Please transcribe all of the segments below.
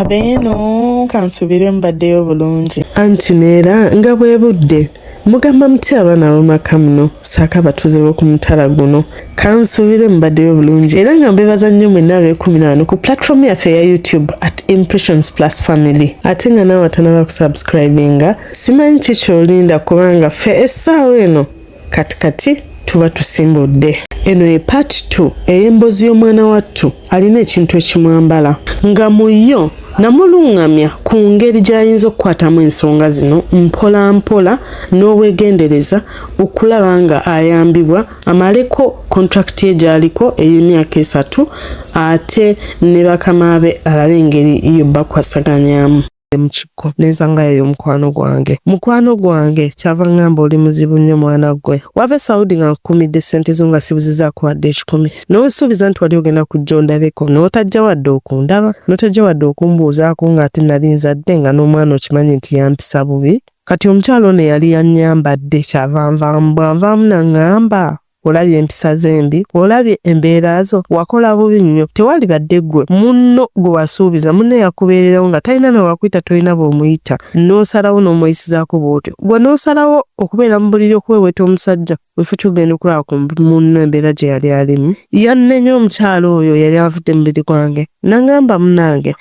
abeeno kansubire mbaddeyo bulungi anti neera nga bwe budde mugamba muti abaana abamaka muno saako abatuuze b'oku mutala guno kansuubire mubaddeyo bulungi era nga mbebaza nnyo mwenna ab'ekumi naano ku platform yaffe eya youtube at impressions plus family ate nga naawe atanaba kusubscribinga simanyi ki kyolinda kubanga ffe essaawa eno kati kati tuba tusimbudde eno ye part 2 ey'embozi y'omwana wattu alina ekintu ekimwambala nga mu yo namulungamya ku ngeri gy'ayinza okukwatamu ensonga zino mpola mpola n'obwegendereza okulaba nga ayambibwa amaleko kontrakiti ye gy'aliko ey'emyaka esatu ate ne bakama be alabe engeri yo bakwasaganyamu nzidde mu kikko nenzangayo mukwano gwange mukwano gwange kyava ngamba oli muzibu nnyo mwana gwe wava esaudi nga nkukumidde ssente zo nga sibuzizaako wadde ekikumi n'osuubiza nti wali ogenda kujja ondabeko n'otajja wadde okundaba n'otajja wadde okumbuuzaako ng'ate nali nzadde nga n'omwana okimanyi nti yampisa bubi kati omukyalo ono eyali yanyambadde kyavanvamu bwanvaamu nangamba olabye empisa ze embi olabye embeera zo wakola bubi nnyo tewali badde ggwe munno gwe wasuubiza munne yakubeererawo nga talina na wakuyita tolina bw'omuyita n'osalawo n'omweyisizaako bw'otyo gwe n'osalawo okubeera mu buliri okuweweeta omusajja wefu kyogenda okulaba ku munno embeera gye yali alimu yannenya omukyalo oyo yali avudde mubiri gwange nangamba munange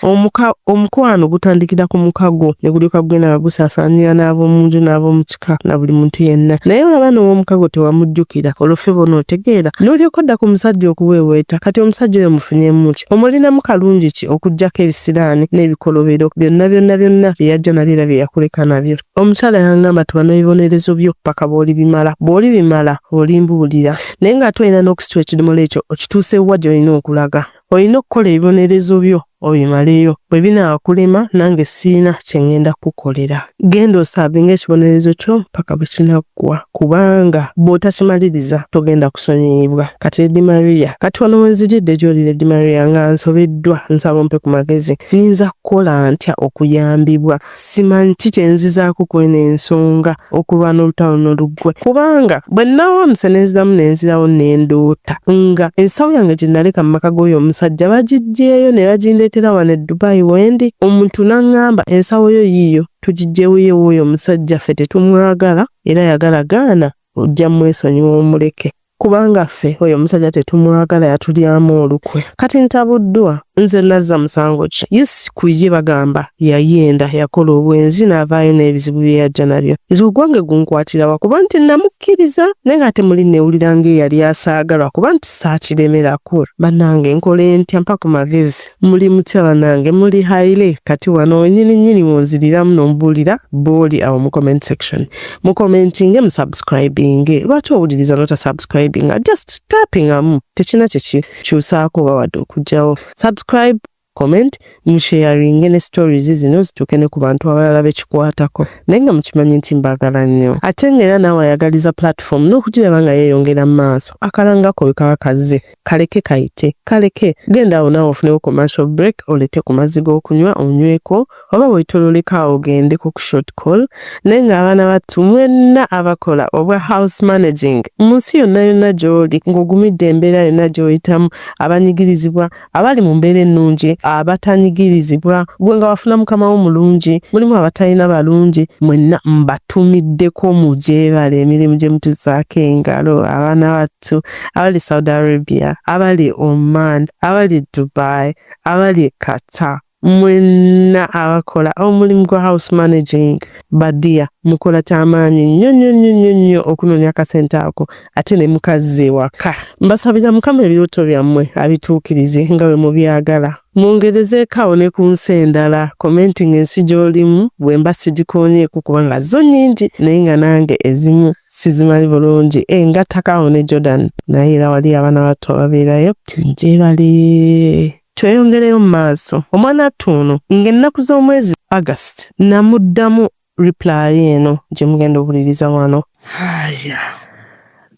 omukwano gutandikira ku mukago ne gulyoka gugenda nga gusaasaanira n'ab'omu nju n'ab'omuki yekka na buli muntu yenna naye olaba n'owomukago tewamujjukira olwo ffe b'onootegeera n'olyoka odda ku musajja okuweeweeta kati omusajja oyo mufunyemu ki omulinamu kalungi ki okuggyako ebisiraani n'ebikolobero byonna byonna byonna bye yajja nabyo era bye yakuleka nabyo omukyala yangamba nti bano ebibonerezo byo paka bw'olibimala bw'olibimala olimbuulira naye ng'ate olina n'okusitula ekidomola ekyo okituuse wa gy'olina okulaga Olina okukola ebibonerezo byo obimaleyo, bwe binaakulema nange sirina kye ŋŋenda kukukolera. Genda osaavinga ekibonerezo kyo mpaka bwe kinaggwa, kubanga bw'otakimaliriza togenda kusonyiyibwa. Kati Lady Maria, kati wano we nzijidde gy'oli Lady Maria nga nsobeddwa, nsaba ompe ku magezi. Nnyinza kukola ntya okuyambibwa? simanyi ki kye nzizaako ku eno ensonga okulwana olutalo no luggwe kubanga bwe nnawaamuse ne nziramu ne nzirawo ne ndoota nga ensawo yange gye naleka mu maka g'oyo omusajja bagiggyeeyo ne bagindeetera wano e Dubai wendi omuntu n'aŋŋamba ensawo yo yiiyo tugiggyewo ye w'oyo omusajja ffe tetumwagala era yagala gaana ojja mwesonyiwa omuleke kubanga ffe oyo omusajja tetumwagala yatulyamu olukwe kati ntabuddwa nze nazza musango ki yes ku ye bagamba yayenda yakola obwenzi n'avaayo n'ebizibu bye yajja nabyo nze ogwange gunkwatirawa kuba nti namukkiriza naye nga ate muli neewulira ng'eyali asaagalwa kuba nti saakiremerako bannange nkole ntya mpa ku magezi muli mutya bannange muli haile kati wano wenyini nyini wonziriramu n'ombuulira booli awo mu comment section mukomentinge musubscribinge lwaki owuliriza nota subscribinga just tapingamu tekina kyekikyusaako oba wadde okugjawo subscribe comment musheyaringe ne stories zino zituuke ne ku bantu abalala bekikwatako naye nga mukimanyi nti mbagala nnyo ate nga era naawe ayagaliza platform n'okugiraba nga yeeyongera mu maaso akalangako bwe kaba kazze kaleke kayite kaleke genda awo naawe ofunewo commercial break olete ku mazzi g'okunywa onyweko oba wetololeka awo ogende ku short call naye ng'abaana battu mwenna abakola obwa house managing mu nsi yonna yonna gy'oli ng'ogumidde embeera yonna gy'oyitamu abanyigirizibwa abali mu mbeera ennungi abatanyigirizibwa gwe nga wafuna mukama wo mulungi mulimu abatalina balungi mwenna mbatumiddeko mugyebale emirimu gye mutuzaako engalo abaana battu abali Saudi Arabia, abali Oman, abali Dubai, abali Qatar mwenna abakola omulimu gwa house managing badiya mukola kyamaanyi nnyo nnyo nnyo nnyo nnyo okunoonya akasente ako ate ne mukazza ewaka mbasabira mukama ebirooto byammwe abituukirize nga bwe mubyagala mungerezeeko awo ne ku nsi endala commenting ensi gy'olimu bwemba sigikoonyeeko kubanga zo nyingi naye nga nange ezimu sizimanyi bulungi engattako eh, awo ne jordan naye era wali abaana battu ababeerayo gyebali tweyongereyo mu maaso omwana attu ono ng'ennaku z'omwezi august namuddamu reply eno gye mugenda owuliriza wano aya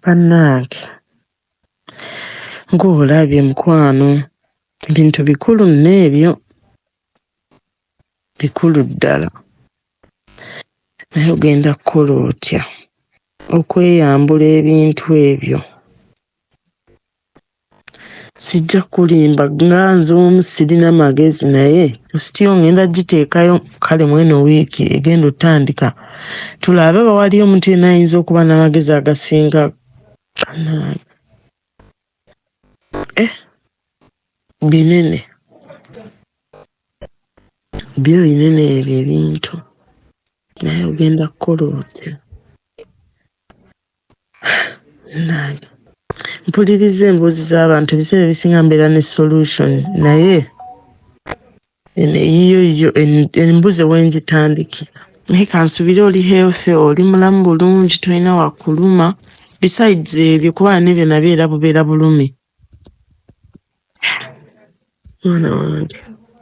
bannange ng'olabye mukwano Bintu bikulu nno ebyo, bikulu ddala. Naye ogenda kukola otya okweyambula ebintu ebyo? Sijja kulimba nga nze omu sirina magezi naye sitiyo ngenda giteekayo kale mweno wiiki egenda otandika tulabe oba waliyo omuntu yenna ayinza okuba n'amagezi agasinga kanaaga. eh, binene byo binene ebyo ebintu naye ogenda kukola otya nange mpuliriza emboozi z'abantu ebiseera ebisinga mbeera ne solution naye eyiyo yiyo embuze wenzitandikira naye kansubire oli healthy oli mulamu bulungi tolina wakuluma besides ebyo kuba nebyo nabyo era bubeera bulumi mwana wange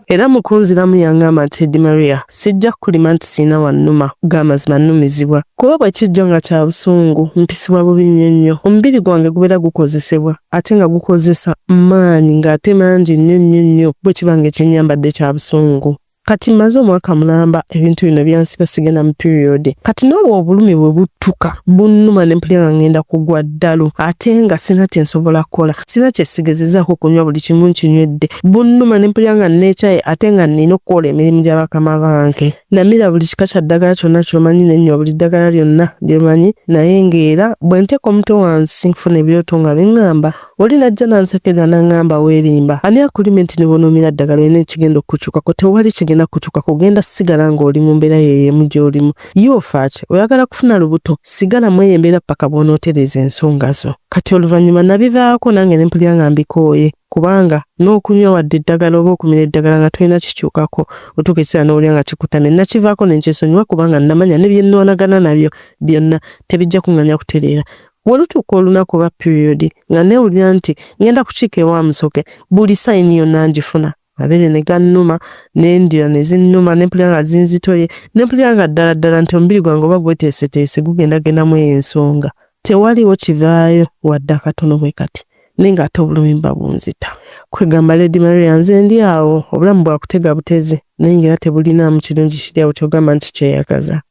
era mukunziramu yangamba nti edi maria sijja kukulima nti siina wannuma gamazima nnumizibwa kuba bwe kijjo nga kya busungu mpisibwa bubi nnyo nnyo omubiri gwange gubeera gukozesebwa ate nga gukozesa maanyi ng'ate mangi nnyo nnyo nnyo bwe kiba nga ekyennyambadde kya busungu kati mmaze omwaka mulamba ebintu bino byansiba sigenda mu piriyodi kati n'olwo obulumi bwe buttuka bunnuma ne mpulira nga ngenda kugwa ddalu ate nga sirina kye nsobola kukola sirina kye sigezezaako okunywa buli kimu nkinywedde bunnuma ne mpulira nga nneekyaye ate nga nnina okukola emirimu gya bakama bange Namira buli kika kya ddagala kyonna ky'omanyi ne nnywa buli ddagala lyonna lye manyi naye ng'era bwe nteeka omutwe wansi nfuna ebirooto nga biŋŋamba oli n'ajja n'ansekerera n'aŋŋamba weerimba ani akulimye nti ne bw'onuumira ddagala olina ekigenda okukukyukako tewali kigenda kukukyukako ogenda sigala ng'oli mu mbeera ye y'emu gy'olimu ye ofa ki oyagala kufuna lubuto sigala mu eyo embeera ppaka bw'onootereeza ensonga zo kati oluvannyuma nabivaako nange ne mpulira nga mbikooye kubanga n'okunywa wadde eddagala oba okumira eddagala nga tolina kikyukako otuuka ekiseera n'owulira nga kikutamye nakivaako ne nkyesonyiwa kubanga namanya ne bye nnwanagana nabyo byonna tebijja kuŋŋanya kutereera Wolutuuka olunaku oba piriyodi nga neewulira nti ngenda kukiika ewa Musoke buli sayini yonna ngifuna mabeere ne gannuma n'endira ne zinnuma ne mpulira nga zinzitoye ne mpulira nga ddala ddala nti omubiri gwange oba gweteeseteese gugenda genda mu eyo ensonga Tewaliwo kivaayo wadde akatono bwe kati. Naye ng'ate obulumi buba bunzita. Kwegamba Lady Maria nze ndi awo, obulamu bwa kutega butezi naye ng'era tebulinaamu kirungi kiri awo ky'ogamba nti kyeyagaza.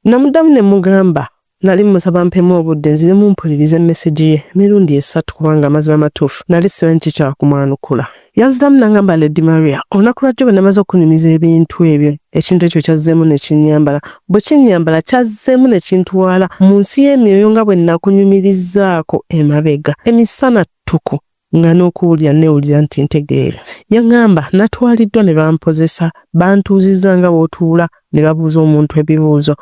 Namuddamu ne mmugamba nali mmusaba ampemu obudde nziremu mpulirize mesegi ye emirundi esatu kubanga amazima amatuufu nali simanyi ki kya kumwanukula. Yanziramu n'angamba Lady Maria, olunaku lwajjo bwe namaze okunyumiza ebintu ebyo, ekintu ekyo kyazzeemu ne kinnyambala. Bwe kinnyambala, kyazzeemu ne kintwala mu nsi y'emyoyo nga bwe nakunyumirizaako emabega. Emisana ttuku nga n'okuwulira nneewulira nti ntegeera. Yaŋŋamba natwaliddwa ne bampozesa, bantuuzizza nga bw'otuula ne babuuza omuntu ebibuuzo,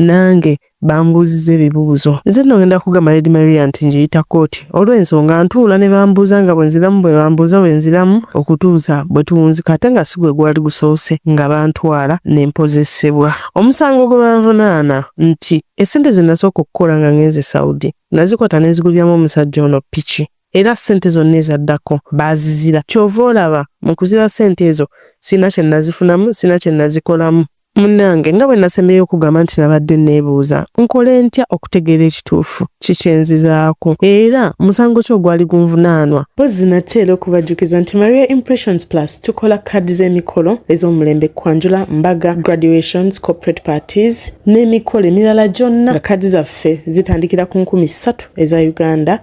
nange bambuuziza ebibuuzo nze nno ngenda kugamba lady maria nti njiyita kooti olw'ensonga ntuula ne bambuuza nga bwe nziramu bwe bambuuza bwe nziramu okutuusa bwe tuwunzika ate nga si gwe gwali gusoose nga bantwala ne mpozesebwa omusango gwe banvunaana nti essente ze nasooka okukola nga ngenze saudi nazikwata ne nziguliramu omusajja ono piki era ssente zonna ezaddako baazizira kyova olaba mu kuzira ssente ezo sirina kye nazifunamu sirina kye nazikolamu Munnange nga bwe nasembyeyo okugamba nti nabadde neebuuza nkole ntya okutegeera ekituufu kikyenzizaako era musango ki ogwali gunvunaanwa mpozzi nate era okubajjukiza nti maria impressions plus tukola kaadi z'emikolo ez'omulembe kwanjula mbaga graduations corporate parties n'emikolo emirala gyonna nga kaadi zaffe zitandikira ku nkumi ssatu eza uganda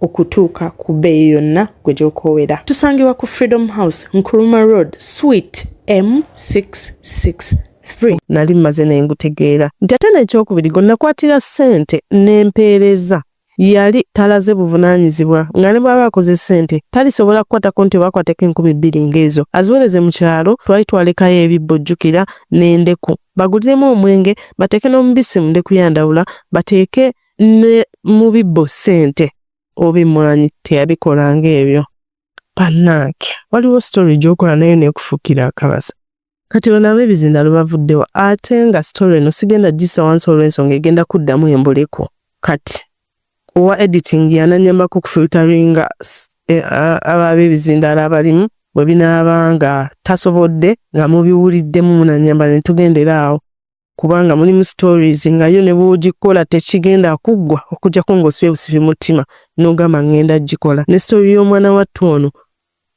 okutuuka ku bbeeyi yonna gwe gy'okoowera. Tusangibwa ku Freedom House, Nkrumah Road, Suite M66. nali mmaze ne ngutegeera nti ate n'ekyokubiri gwe nakwatira ssente n'empeereza yali talaze buvunaanyizibwa nga ne bw'aba akoze ssente talisobola kukwatako nti oba akwateko enkumi bbiri ng'ezo aziwereze mu kyalo twali twalekayo ebibbo jjukira n'endeku baguliremu omwenge bateeke n'omubisi mu ndeku ya ndawula bateeke ne mu bibbo ssente oba emmwanyi teyabikolanga ebyo bannange waliwo sitori gyokola nayo nekufukira akabaza kati bano abebizinda lwebavuddewo ate nga sitori eno sigenda gisa wansi olw'ensonga egenda kuddamu embuleko kati owa editing yananyambako okufilteringa eh, ababebizindala abalimu bwe binaaba nga tasobodde nga mubiwuliddemu munanyamba ne tugendera awo kubanga mulimu stories nga yo ne bwogikola tekigenda kuggwa okujjako ng'osiba ebusibi mutima n'ogamba ngenda gikola ne story y'omwana wattu ono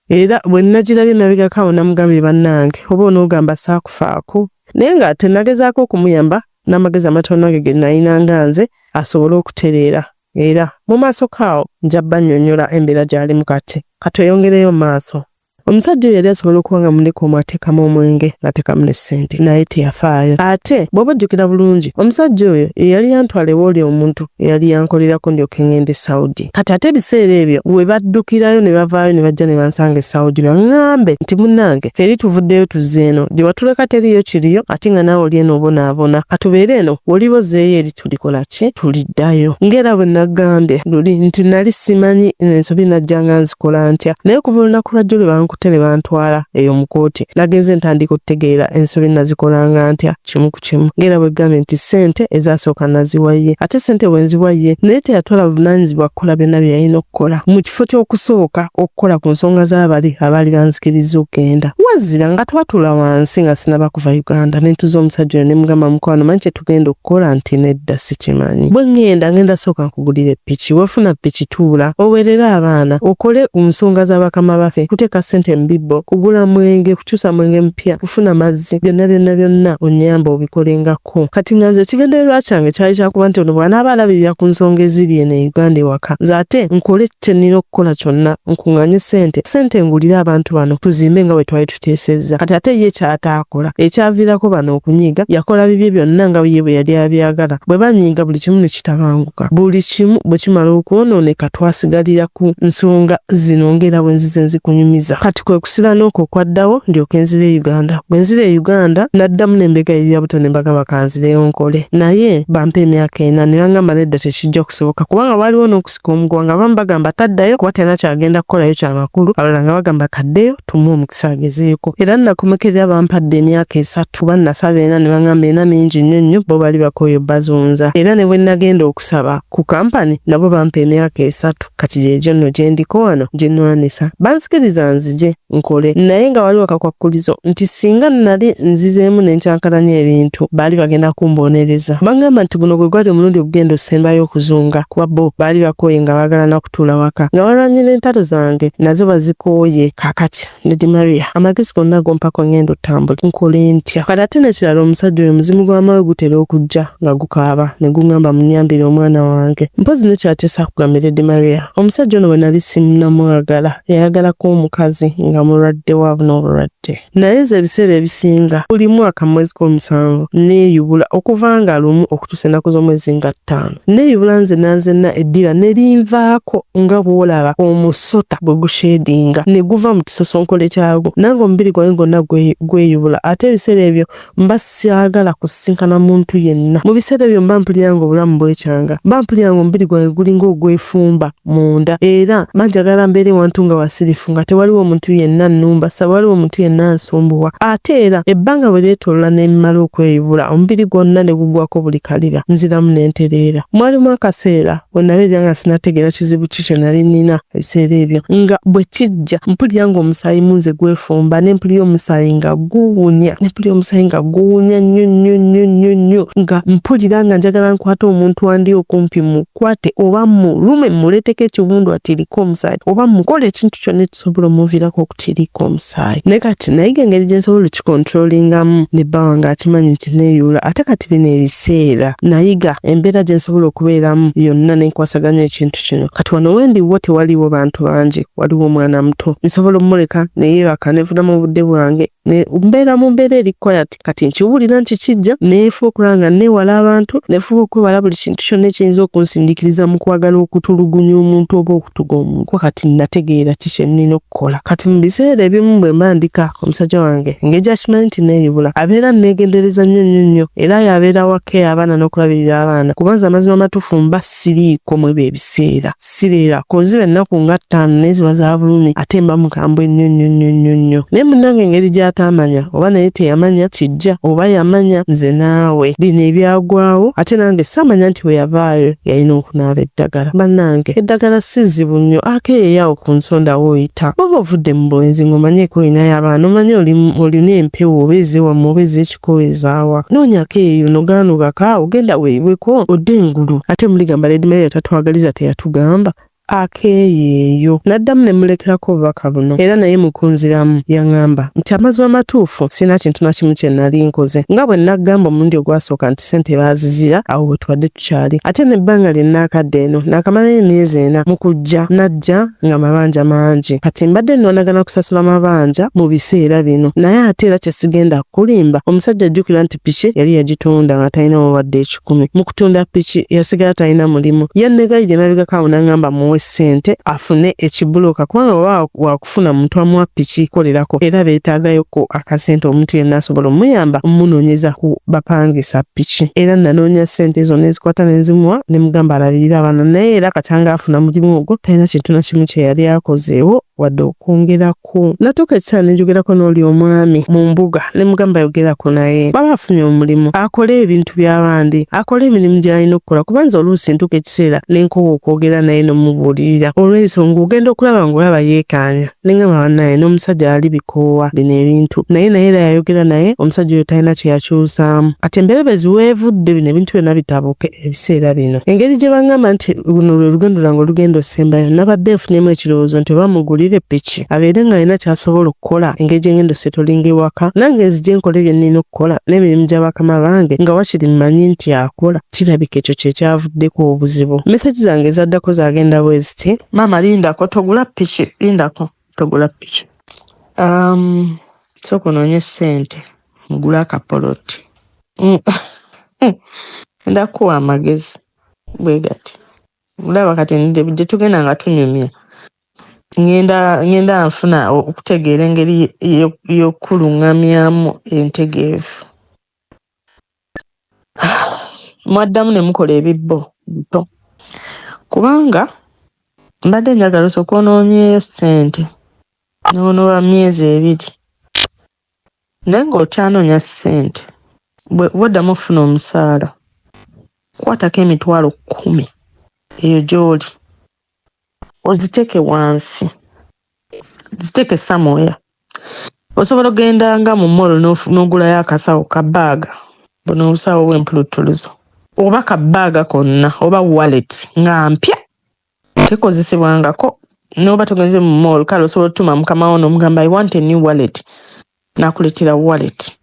era bwe nnagirabye emabegako awo namugambye bannange oba onoogamba saakufaako naye nga tenagezaako okumuyamba n'amagezi amatono ge ge nnalina nga nze asobole okutereera era mu maaso kaawo nja bannyonnyola embeera gy'alimu kati katweyongereyo maaso Omusajja oyo yali asobola okuba nga muleka omu ateekamu omwenge n'ateekamu ne ssente naye teyafaayo. Ate bw'oba ojjukira bulungi, omusajja oyo ye yali yantwala ew'oli omuntu eyali yankolerako ndyoke ng'ende e Saudi. Kati ate ebiseera ebyo we baddukirayo ne bavaayo ne bajja ne bansanga e Saudi baŋŋambe nti, Munnange, ffe eri tuvuddeyo tuzze eno. Gye watuleka teriiyo kiriyo ate nga naawe oli eno obonaabona. Ka tubeere eno, w'oliba ozzeeyo eri. tulikola ki tuliddayo ngera bwe nagambye luli nti nali simanyi ensobi najja nga nzikola ntya naye kuva olunaku lwajjo lwe bankute ne bantwala eyo mu kooti nagenze ntandika okutegeera ensobi nazikolanga ntya kimu ku kimu ngera bwe gambye nti sente ezasooka naziwaye ate sente bwe nziwaye naye teyatwala buvunanyizibwa kukola byonna bye yalina okukola mu kifo ky'okusooka okukola ku nsonga z'abali abaali banzikiriza okugenda wazira nga twatula wansi nga sinaba kuva uganda nentuza omusajja oyo ne mugamba mukwano manyi tugenda okukola nti nedda sikimanyi bwe ŋŋenda ŋenda sooka nkugulire piki wefuna piki tuula owerere abaana okole ku nsonga za bakama bafe kuteeka ssente mu bibbo kugula mwenge kukyusa mwenge mupya kufuna mazzi byonna byonna byonna onnyamba obikolengako kati nga nze ekigendererwa kyange kyali kyakuba nti ono bwanaaba alabirira ku nsonga eziri eno e uganda ewaka nze ate nkole kye nnina okukola kyonna nkunganye ssente ssente ngulire abantu bano tuzimbe nga bwe twali yatuteesezza kati ate ye kyataakola ekyaviirako bano okunyiiga yakola bibye byonna nga ye bwe yali abyagala bwe banyiiga buli kimu ne kitabanguka buli kimu bwe kimala okwonooneka twasigalira ku nsonga zino ng'era bwe nzize nzikunyumiza kati kwe kusira n'okwo okwaddawo ndyoke nzira e uganda bwe nzira e uganda naddamu n'embega erya buto ne mbagamba kanzireyo nkole naye bampa emyaka ena ne bangamba nedda tekijja kusoboka kubanga waaliwo n'okusika omuguwa nga bamu bagamba taddayo kuba tena kyagenda kukolayo kyamakulu abalala nga bagamba kaddeyo tumuwa omukisa agezeeko era nakomekerera bampadde emyaka esatu bannasaba ena ne bangamba ena mingi nnyo nnyo bo bali bakooyo bazunza era ne bwe nagenda okusaba ku kampani nabo bampa emyaka esatu kati gyegyo nno gye ndiko wano gye nnwanisa banzikiriza nzije nkole naye nga waliwo kakwakkulizo nti singa nnali nzizeemu ne nkyankalanya ebintu baali bagenda kumboonereza bangamba nti guno gwe gwali omulundi ogugenda osembayo okuzunga kuba bo baali bakooye nga baagala okutuula waka nga walwanye n'entalo zange nazo bazikooye kakati lady maria amagezi gonna gompako ngenda otambula nkole ntya kati ate nekirala omusajja oyo muzimu gwamawe gutera okujja nga gukaaba ne gungamba munyambire omwana wange mpozi nekyateesa kugambye lady maria omusajja ono bwe nali simunamwagala yayagala ko omukazi nga mulwadde waabuna obulwadde naye nze ebiseera ebisinga buli mwaka mu mwezi gw'omusanvu neeyubula okuva nga lumu okutuusa ennaku z'omwezi nga ttaano neeyubula nze nanzenna eddira ne linvaako nga bw'olaba omusota bwe gushedinga ne guva mu kisosonkola ekyagwo nange omubiri gwange gwonna gweyubula ate ebiseera ebyo mba syagala kusisinkana muntu yenna mu biseera ebyo mba mpulira nga obulamu bwekyanga mba mpulira nga omubiri gwange gulinga ogwefumba munda era mba njagala mbeere wantu nga wasirifu nga tewaliwo omuntu yenna nnumba saba waliwo omuntu yenna nsumbuwa ate era ebbanga bwe lyetoolola n'emimala okweyubula omubiri gwonna ne gugwako buli kalira nziramu n'entereera mwalimu akaseera we nabeerera nga sinategeera kizibu ki kye nali nnina ebiseera ebyo nga bwe kijja mpulira ng'omusaayi munze gwefumba ne mpulira omusaayi nga guwunya ne mpulira omusaayi nga guwunya nnyo nnyo nnyo nnyo nnyo nga mpulira nga njagala nkwata omuntu andi okumpi mukwate oba mulume muleeteko ekiwundu atirika omusaayi oba mukola ekintu kyonna ekisobola omuviirako okutirika omusaayi naye kati nayiga engeri gye nsobola okikontrolingamu ne bba wange akimanyi nti neeyuula ate kati bino ebiseera nayiga embeera gye nsobola okubeeramu yonna ne nkwasaganya ekintu kino kati wano wendiwo tewaliwo bantu bangi waliwo omwana muto nsobola omuleka neyebaka nefuna mu budde bwange mbeera mu mbeera eri quiet kati nkiwulira nti kijja neefuba okulaba nga neewala abantu nefuba okwewala buli kintu kyonna ekiyinza okunsindikiriza mu kwagala okutulugunya omuntu oba okutuga omuntu kuba kati nategeera ki kye nnina okukola kati mu biseera ebimu bwe mba ndika omusajja wange engeri gyakimanyi nti neeyubula abeera neegendereza nnyo nnyo nnyo era yabeera wa keya abaana n'okulabirira abaana kubanza amazima matufu mba siriiko mwebyo ebiseera sireera koziba ennaku nga ttaano naye ziba za bulumi ate mba mukambwe nnyo nnyo nnyo nnyo nnyo naye munnange engeri gy'ataamanya oba naye teyamanya kijja oba yamanya nze naawe bino ebyagwawo ate nange saamanya nti bwe yavaayo yalina okunaaba eddagala bannange eddagala si zibu nnyo ake yeyawo ku nsonda wooyita oba ovudde mu bwenzi ng'omanyeeko olinayo abaana omanye olina empewo oba ezewamu oba ezek kuwezaawa noonyako eyo nogaanugaka ogenda weebweko odde engulu ate muligamba Lady Maria tatwagaliza teyatugamba akeeyeeyo n'addamu ne mulekerako obubaka buno era naye mukunziramu yaŋamba nti amazima amatuufu sirina kintu na kimu kye nali nkoze nga bwe naggamba omulundi ogwasooka nti ssente baazizira awo bwe tubadde kyali ate nebbanga lye naakadde eno naakamalayo emyezi ena mu kujja najja nga mabanja mangi kati mbadde nonagana kusasula mabanja mu biseera bino naye ate era kyesigenda kulimba omusajja ajjukira nti piki yali yagitunda nga talina wawadde ekikumi mu kutunda piki yasigala talina mulimu yannegayi gye nabigako awo nangamba muwe ssente afune ekibuloka kubanga oba kufuna muntu amuwa piki kolerako era beetaagayoko akasente omuntu yenna asobola omuyamba omunonyeza ku bapangisa piki era nanoonya sente zona ezikwata nenzimuwa ne mugamba alabirira abaana naye era katanga afuna mulimu ogwo talina kintu na kimu kye yali akozeewo wadde okwongerako natuuka ekiseera nenjogerako n'oli omwami mu mbuga ne mugamba yogerako naye baba afunye omulimu akole ebintu by'abandi akole emirimu gy'alina okukola kubanza oluusi ntuuka ekiseera ne nkowa okwogera naye n'omubuulirira olw'ensonga ogenda okulaba ng'olaba yeekaanya ne ngamba bannaaye n'omusajja ali bikoowa bino ebintu naye naye era yayogera naye omusajja oyo talina kye yakyusaamu kati emberebezi weevudde bino ebintu byonna bitabuke ebiseera bino engeri gye bangamba nti luno lwe lugendo lwange olugenda osembayo nabadde nfunyemu ekirowoozo nti oba mugulire piki abeere nga alina kyasobola okukola engeri gyengenda osetolinga ewaka nange nzije nkole byennina okukola n'emirimu gya bakama bange nga wakiri mmanyi nti akola kirabika ekyo kyekyavuddeko obuzibu mesagi zange ezaddako zagenda bweziti maama lindako togula piki lindako togula piki um, sooka onoonye ssente mugula akapoloti mm. enda kuwa amagezi bwe gati olaba kati gye tugenda nga tunyumya ngenda ngenda nfuna okutegeera engeri y'okukuluŋŋamyamu entegeevu mwaddamu ne mukola ebibbo bito kubanga mbadde njagala osooka onoonyeyo ssente noonoba myezi ebiri naye ng'okyanoonya ssente bwoddamu okufuna omusaala kwatako emitwalo kkumi eyo gy'oli oziteke wansi ziteke samoya osobola ogenda nga mu molo nogulayo akasawo ka baaga buno obusawo bwempuluttuluzo oba ka baaga konna oba wallet nga mpya tekozesebwangako noba togenze mu mall kale osobola otuma mukamawo nomugamba i want a new wallet nakuletera wallet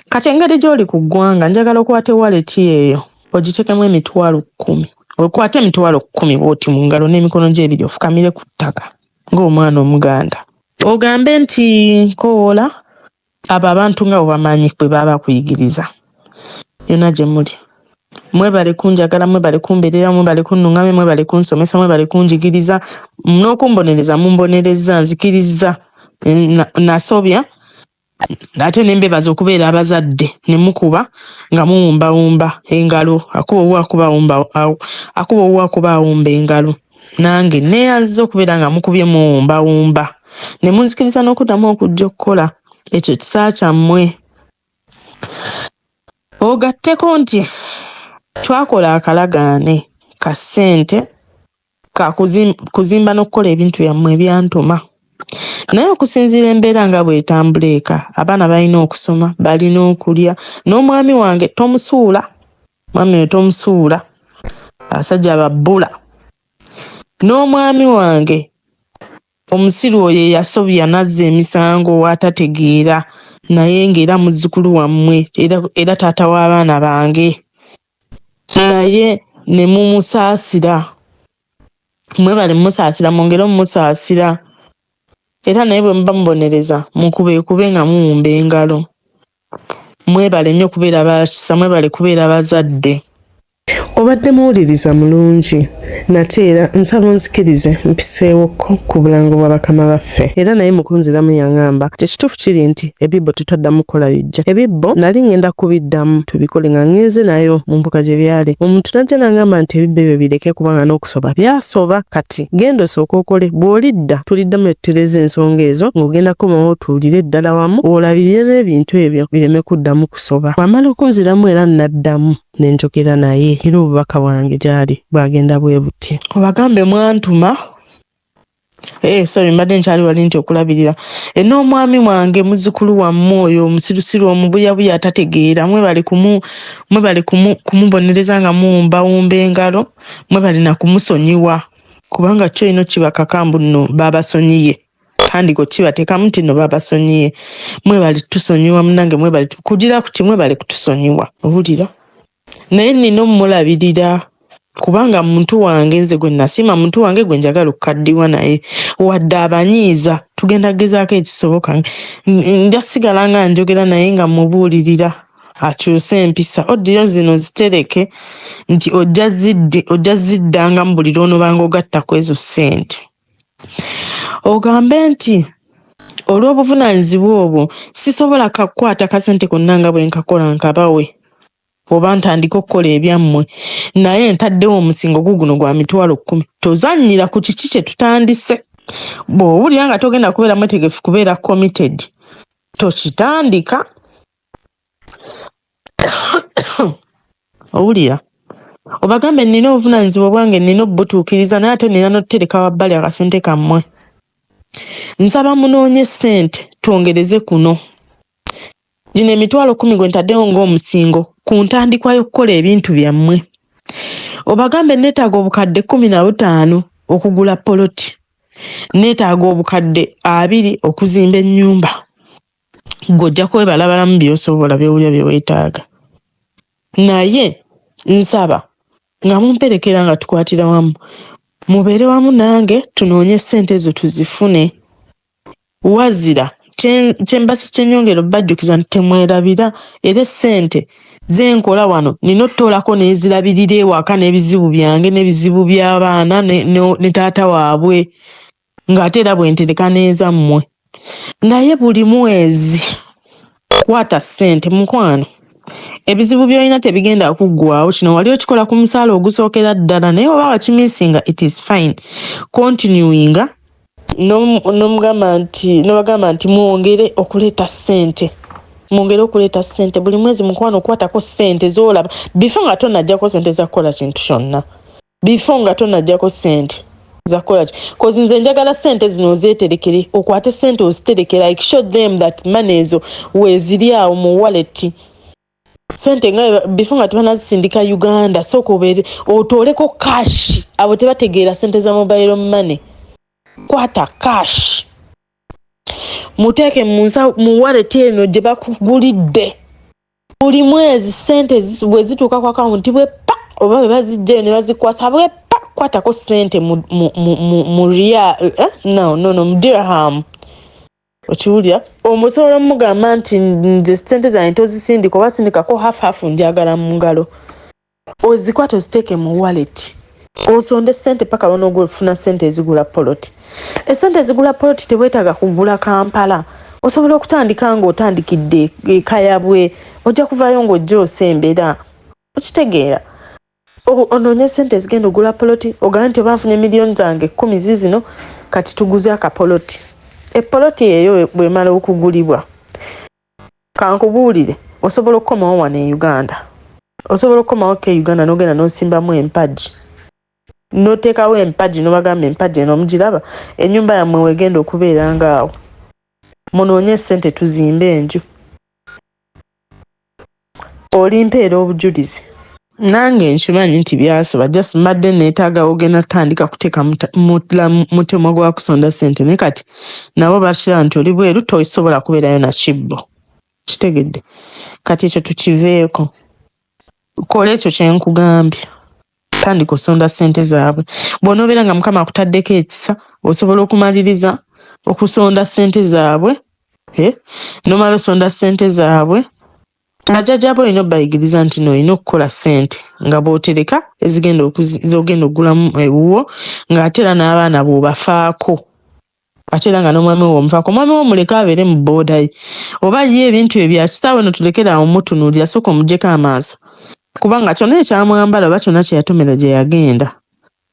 kati engeri gyoli ku ggwanga njagala okwata wallet eyo ogitekemu emitwalo kkumi okwate emitwalo kkumi bwoti mu ngalo n'emikono gyo ebiri ofukamire ku ttaka ng'omwana omuganda ogambe nti nkowoola abo abantu nga bwebamanyi bwe baba bakuyigiriza yona gyemuli. Mwebale kunjagala, mwebale kumberera, mwebale kunnungamya, mwebale kunsomesa, mwebale kunjigiriza n'okumbonereza. Mumbonerezza, nzikirizza, nasobya ate ne mbebaza okubeera abazadde ne mukuba nga muwumbawumba engalo akuba owuwo akuba awumba akuba owuwo akuba awumba engalo nange neyanziza okubeera nga mukubye muwumbawumba ne munzikiriza n'okuddamu okujja okukola ekyo kisa kyammwe Ogatteko nti twakola akalagaane ka ssente ka kuzimba n'okukola ebintu byammwe ebyantuma naye okusinziira embeera nga bw'etambula eka abaana balina okusoma balina okulya n'omwami wange tomusuula mwami oyo tomusuula abasajja babbula n'omwami wange Omusiru oyo eyasobya nazza emisango watategeera naye nga era muzukulu wammwe era, era taata w'abaana bange naye ne mumusaasira. Mwebale mumusaasira, mwongere omumusaasira era naye bwe muba mubonereza mukubeekube nga muwumba engalo. Mwebale nnyo kubeera ba kisa, mwebale kubeera bazadde. obadde muwuliriza mulungi nate era nsaba onzikirize mpiseewokko ku bulango bwa bakama baffe era naye mukunziramu yaŋamba nti ekituufu kiri nti ebibbo tetwaddamu kukola bijja ebibbo nali ŋenda kubiddamu tubikole nga ŋenze nayo mu mbuga gye byali omuntu najja naŋamba nti ebibbo ebyo bireke kubanga n'okusoba byasoba kati genda osooka okole bw'olidda tuliddamu etutereeza ensonga ezo ng'ogenda komawo otuwulire eddala wamu olabirire n'ebintu ebyo bireme kuddamu kusoba wamala okunziramu era naddamu ne njogera naye era obubaka bwange gy'ali bwagenda bwe buti obagambe mwantuma Eh, sorry mbadde nkyali wali nti okulabirira e n'omwami wange muzukulu wammwe oyo omusirusiru omubuyabuya atategeera mwebale kumu mwebale kumu kumubonereza nga muwumbawumba engalo mwebale na kumusonyiwa kubanga kyo ino kibakaka mbu nno baabasonyiye kandi gwe kibatekamu nti no babasonyiye mwebali tusonyiwa munange mwebali kugira kuti mwebali kutusonyiwa owulira naye nina omulabirira kubanga muntu wange nze gwe nasiima muntu wange gwe njagala okukaddiwa naye wadde abanyiiza tugenda kugezaako ekisoboka nja sigala nga njogera naye nga mubuulirira akyuse empisa odiyo zino zitereke nti ojja zidde ojja ziddangamu buli lwonobanga ogatta ku ezo ssente ogambe nti olw'obuvunaanyizibwa obwo sisobola kakukwata kasente konna nga bwe nkakola nkabawe oba ntandike okukola ebyammwe naye ntaddewo omusingo gu guno gwa mitwalo kkumi tozannyira ku kiki kye tutandise bw'owulira nga togenda kubeera mwetegefu kubeera committed tokitandika owulira obagambe nina obuvunanyizibwa obwange nina obubutuukiriza naye ate nina notutereka wabbali akasente kammwe nsaba munoonye sente twongereze kuno gino emitwalo kumi gwe ntaddewo ng'omusingo ku ntandikwa y'okukola ebintu byammwe obagambe neetaaga obukadde kumi na butaano okugula poloti neetaaga obukadde abiri okuzimba ennyumba ng'ojja kwebalabalamu byosobola byowulira byewetaaga naye nsaba nga mumperekera nga tukwatira wamu mubeere wamu nange tunoonye ssente ezo tuzifune wazira kyembasi kyenyongero bajjukiza nti temwerabira era essente zenkola wano nina otutoolako nezirabirira ewaka n'ebizibu byange n'ebizibu by'abaana ne taata waabwe ng'ate era bwe ntereka n'ezammwe naye buli mwezi kwata ssente mukwano ebizibu by'olina tebigenda kuggwawo kino wali okikola ku musaala ogusookera ddala naye oba wakimisinga it is fine continuinga nomugamba nti nobagamba nti mwongere okuleeta ssente mwongere okuleeta ssente buli mwezi mukwano okukwatako ssente zolaba bifa nga tonajjako ssente za kukola kintu kyonna before nga tonajjako sente zakolaki cause nze njagala sente zino ozeterekere okwate sente oziterekere like show them that money ezo weziri awo mu wallet sente nga before nga tebanazisindika uganda sooka obeere otooleko cash abo tebategeera sente za mobile money kwata cash muteeke mu wallet eno gye bakugulidde buli mwezi sente bwe zituuka ku akawunti bwe pa oba bwe bazijjayo ne bazikwasa bwe pa kwatako sente mu, mu, mu, mu, mu real eh? no, no, no, mu dirham okiwulira omusobola omugamba nti nze sente zange tozisindika oba sindikako half half njagala mu ngalo ozikwata oziteeke mu wallet osonde sente paka lwonoga ofuna sente ezigula poloti esente ezigula poloti tewetaaga kugula kampala osobola okutandika nga otandikidde ekayabwe ojja kuvayo ngaojja osembera okitegeera onoonye sente ezigenda ogula poloti ogambe nti oba nfunye miliyoni zange kumi zizino kati tuguze akapoloti epoloti eyo bwemala okugulibwa kankubuulire osobola okukomawo wano e uganda osobola okukomawo ko e uganda nogenda nosimbamu empagi notekawo empagi nobagamba empagi eno omugiraba enyumba yammwe wegenda okubeera ngaawo munoonye sente tuzimbe enju olimpeera obujulizi nange nkimanyi nti byasiba just mbadde neetaaga ogenda tutandika kuteeka mutemwa gwa kusonda ssente naye kati nabo bakiraba nti oli bweru tosobola kubeerayo na kibbo kitegedde kati ekyo tukiveeko kola ekyo kye nkugambye tandika osonda sente zaabwe bwonobeera nga mukama akutaddeko ekisa osobola okumaliriza okusonda sente zaabwe eh, nomala osonda sente zaabwe najajaba olina obayigiriza nti no olina okukola sente nga bwotereka ezigenda zogenda okugulamu ewuwo ngaate era n'abaana bwobafaako ate era nga n'omwami we omuvaako omwami we omuleke abeere mu bbooda ye oba ye ebintu bye bya kitaawe no tulekere awo mutunuulira sooka omuggyeko amaaso kubanga kyonna ekyamwambala oba kyonna kye yatomera gye yagenda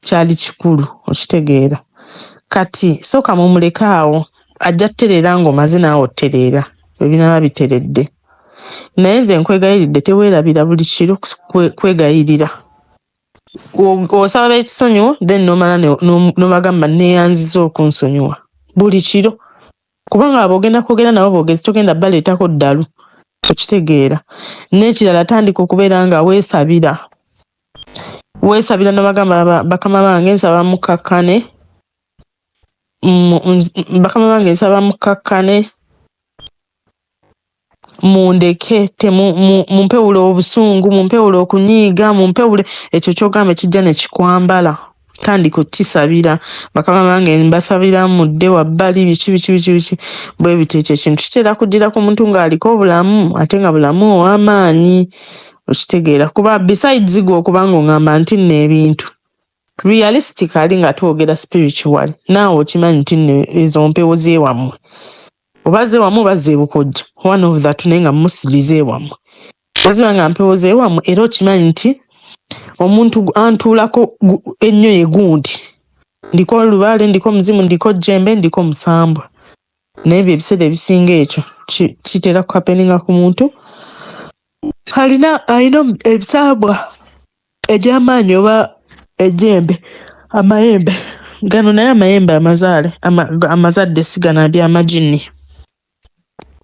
kyali kikulu okitegeera kati sooka mumuleke awo ajja tutereera ng'omaze naawe otutereera bwe binaaba biteredde naye nze nkwegayiridde teweerabira buli kiro kwegayirira osaba bekisonyiwo then nomala nobagamba neyanziza okunsonyiwa buli kiro kubanga abo ogenda kwogera nabo bogezi togenda baleetako ddalu okitegeera n'ekirala tandika okubeera nga weesabira weesabira nobagamba bakama bange nsaba mukkakkane bakama bange nsaba mukkakkane mundeke mumpewule obusungu mumpewule okunyiiga mumpewule ekyo kyogamba ekijja nekikwambala tandika okukisabira bakama bange mbasabira mudde wabbali biki biki biki biki bwe bityo ekyo ekintu kitera kuddira ku muntu ng'aliko obulamu ate nga bulamu ow'amaanyi okitegeera kuba besides gwe okubanga ongamba nti nno ebintu realistically nga twogera spiritual naawe okimanyi nti nno ezo mpewo zewammwe oba zewamu oba zebukojja one of that naye nga musili zewammwe oziba nga mpewo zewammwe era okimanyi nti omuntu antuulako ennyo ye gundi ndiko olubaale ndiko omuzimu ndiko jjembe ndiko musambwa naye bye ebiseera ebisinga ekyo kitera kukapeninga ku muntu alina alina ebisambwa egy'amaanyi oba egy'embe amayembe gano naye amayembe amazaale amazadde sigana by'amaginni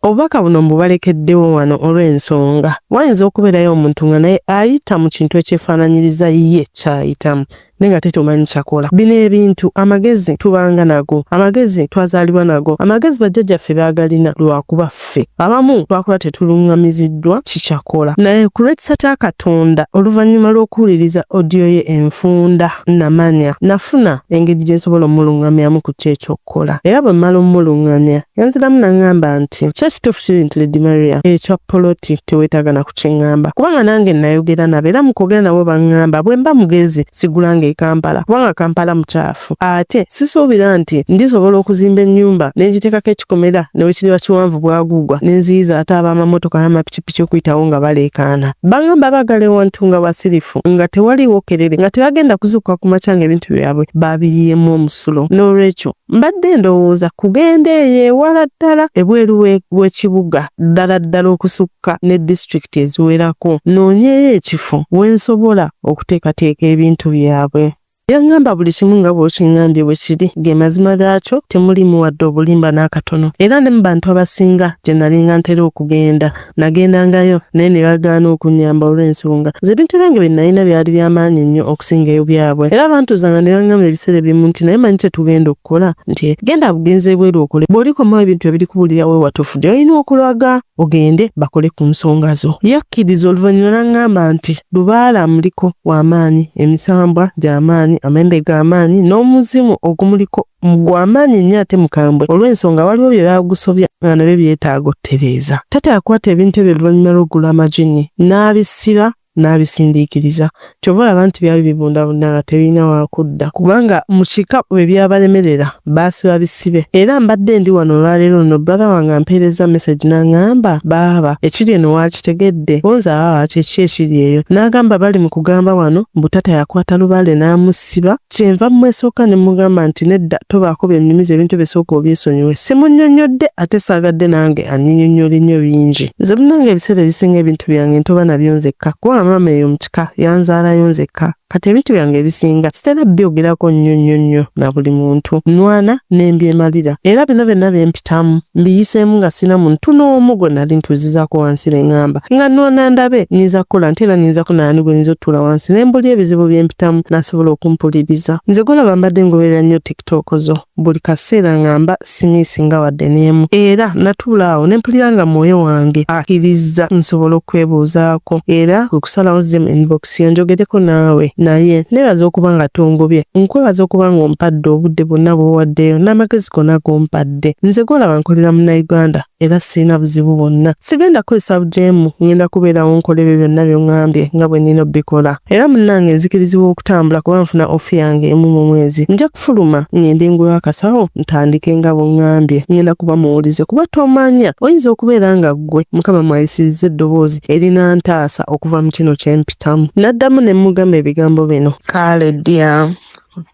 obubaka buno mbubalekeddewo wano olw'ensonga wayinza okubeerayo omuntu nga naye ayita mu kintu ekyefaananyiriza ye kyayitamu naye nga tetumanyi kyakola bino ebintu amagezi tubanga nago amagezi twazaalibwa nago amagezi bajjajjaffe baagalina lwakuba ffe abamu twakola tetulungamiziddwa kikyakola naye ku lw'ekisa katonda oluvannyuma lw'okuwuliriza odiyo ye enfunda namanya nafuna engeri gye nsobola omulungamyamu ku kyo ekyokukola era bwe mmala omulungamya yanziramu nangamba nti kyo kituufu kiri nti ledi maria ekya poloti teweetaaga na kukiŋŋamba kubanga nange nayogera nabo era mu kwogera nabo baŋŋamba bwe mba mugezi sigulanga e kampala kubanga kampala mukyafu butuffu. Ate sisuubira nti ndisobola okuzimba ennyumba ne ngitekako ekikomera ne bwe kiriba kiwanvu bwaguugwa ne nziyiza ate ab'amamotoka n'amapikipiki okuyitawo nga baleekaana. Bangamba baagala ewantu nga basirifu nga tewaliiwo kerere nga tebagenda kuzuukuka ku makya ng'ebintu byabwe baabiyiyeemu omusulo. Noolwekyo mbadde ndowooza kugenda eyo ewala ddala ebweru w'ekibuga ddala ddala okusukka ne disitulikiti eziwerako nnoonyeeyo ekifo we nsobola okuteekateeka ebintu byabwe. Yaŋŋamba buli kimu nga bw'okiŋŋambye bwe kiri, ge mazima gaakyo, temuliimu wadde obulimba n'akatono. Era ne mu bantu abasinga gye nalinga ntera okugenda, nagendangayo, naye ne bagaana okunnyamba olw'ensonga ze binterengo bye nalina byali bya maanyi nnyo okusinga ebyabwe. Era bantuuzanga ne baŋŋamba ebiseera ebimu nti, Naye omanyi kye tugenda okukola? Nti, Genda bugenzi ebweru okole. Bw'olikomawo ebintu ebirikubuulira we watuufu gy'olina okulaga. ogende bakole ku nsonga zo. Yakkiriza oluvannyuma n'aŋŋamba nti, Lubaale amuliko wa maanyi, emisambwa gya maanyi, amayembe ga maanyi, n'omuzimu ogumuliko gwa maanyi nnyo ate mukambwe. Olw'ensonga waliwo bye baagusobya nga nabyo byetaaga otereeza. Taata yakwata ebintu ebyo oluvannyuma lw'okugula amajinni n'abisiba n'abisindiikiriza. Kyova olaba nti byali bibundabunda nga tebirina wakudda kubanga mu kika bwe byabalemerera baasiba bisibe era mbadde ndi wano olwaleero luno brother wange ampeerezza message n'angamba baaba ekiri eno waakitegedde bonze abaaba kye ki ekiri eyo n'agamba bali mu kugamba wano mbu tata yakwata lubaale n'amusiba kyenva mumwesooka ne mugamba nti nedda tobaako byennyumiza ebintu bisooka obyesonyiwe simunnyonnyodde ate saagadde nange anyinyonnyole nnyo bingi nze munange ebiseera ebisinga ebintu byange ntoba nabyo nzekka kubanga maama eyo mu kika yanzaalayo nzekka kati ebintu byange ebisinga sitera byogerako nnyo nnyo nnyo na buli muntu nwana ne mbyemalira era bino byonna byempi ttamu mbiyiseemu nga sina muntu n'omu gwe nali ntuuzizaako wansi ne ŋŋamba nga nnoona ndabe nyinza kukola nti era nyinza ku naani gwe nyinza otuula wansi ne mbulya ebizibu bye mpitamu n'asobola okumpuliriza nze gwolaba mbadde ngoberera nnyo tiktok zo buli kaseera nga mba simiisinga wadde n'emu era natuula awo ne mpulira nga mwoyo wange akkirizza nsobola okwebuuzaako era kwe kusalawo zim inbox siyo njogereko naawe naye nebaza okuba nga tongobye nkwebaza okuba nga ompadde obudde bwonna bwowaddeyo n'amagezi gona gompadde nze gwolaba nkolera munauganda era sirina buzibu bwonna sigenda kukozesa bujeemu ngenda kubeerawo nkola ebyo byonna byongambye nga bwe nina obikola era munnange nzikirizibwa okutambula kuba nfuna ofi yange emu mu mwezi Fuluma ngende ngule akasawo ntandike nga bungambye ngenda kuba muwulize kuba tomanya oyinza okubeera nga ggwe mukama mwayisiriza eddoboozi erina ntaasa okuva mu kino kyempitamu naddamu ne mugamba ebigambo bino kaale dya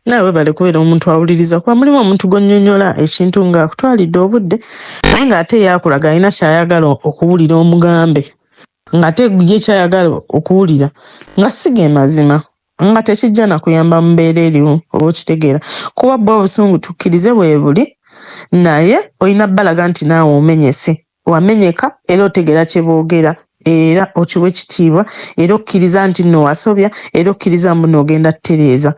naye webale kubeera omuntu awuliriza kuba mulimu omuntu gwonyonyola ekintu nga akutwalidde obudde naye nga ate yakulaga alina kyayagala okuwulira omugambe nga ate ye kyayagala okuwulira nga siga emazima nga tekijja na kuyamba mu mbeera eriwo oba okitegeera kuba bwo obusungu tukkirize bwebuli naye olina balaga nti naawe omenyese wamenyeka era otegera kye boogera era okiwa ekitiibwa era okkiriza nti nno wasobya era okkiriza mbu noogenda tutereeza